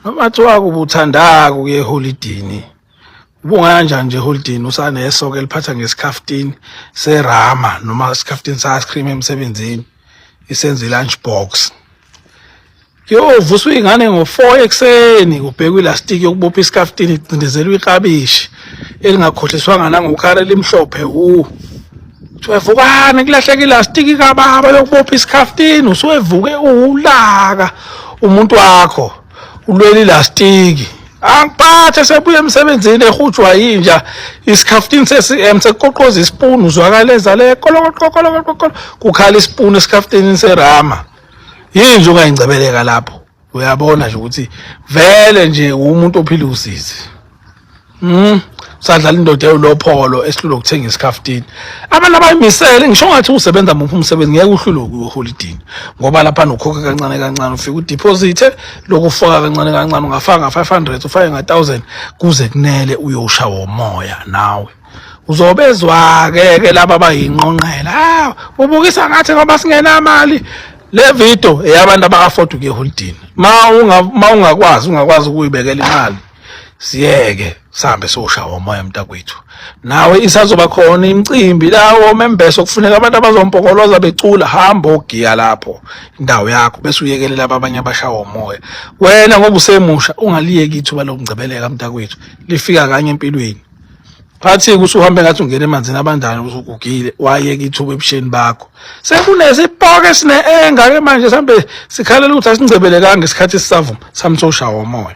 Amathi wako ubuthandaka ukuye eholidini ubungaya njani nje eholidini usaneso ke liphatha ngesikhafutini serama noma isikhafutini sa-ice cream emsebenzini isenza i-lunch box kuyovuswa iy'ngane ngo-four ekuseni kubhekwa ilastiki yokubopha isikafutini igcindezelwa ikabishi elingakhohliswanga nangokhara elimhlophe wu Kuthiwa vukani kulahleka ilastiki kababa yokubopha isikhaftini usuwevuke uwulaka umuntu wakho ulwela ilastiki angiphathe sebuye emsebenzini ehujwa yinja isikhaftini se-cm sekuqoqoza isipuni uzwakala ezale kolokokokokokolo kukhala isipuni esikhaftinini serama yinja ungayingcebeleka lapho uyabona nje ukuthi vele nje umuntu ophila usizi mm sadlala indoda elopholo esihlule ukuthenga isikhaftini abantu abayimisele ngisho ngathi usebenza muphi umsebenzi ngeke uhlule ukuholidini ngoba lapha nokhokhe kancane kancane ufika udeposit lokufaka kancane kancane ungafaka 500 ufake nga 1000 kuze kunele uyosha womoya nawe uzobezwa-ke ke laba abayinqonqela ah ubukisa ngathi ngoba singenamali le video eyabantu abaka-afford ukuya eholidini ma ungakwazi ungakwazi ukuyibekela imali siyeke sihambe siyoshawa umoya mntakwethu nawe isazoba khona imicimbi lawo membese okufuneka abantu abazompokoloza becula hamba ogiya lapho indawo yakho bese uyekelela abanye abashawa umoya wena ngoba usemusha ungaliyeki ithuba lokungcebeleka mntakwethu lifika kanye empilweni phathike usuhambe ngathi ungena emanzini abandayo usugugile wayeka ithuba ebusheni bakho sekunesipoke esine-enga ke manje sihambe sikhalela ukuthi asingcebelekanga isikhathi esisavuma samsosha womoya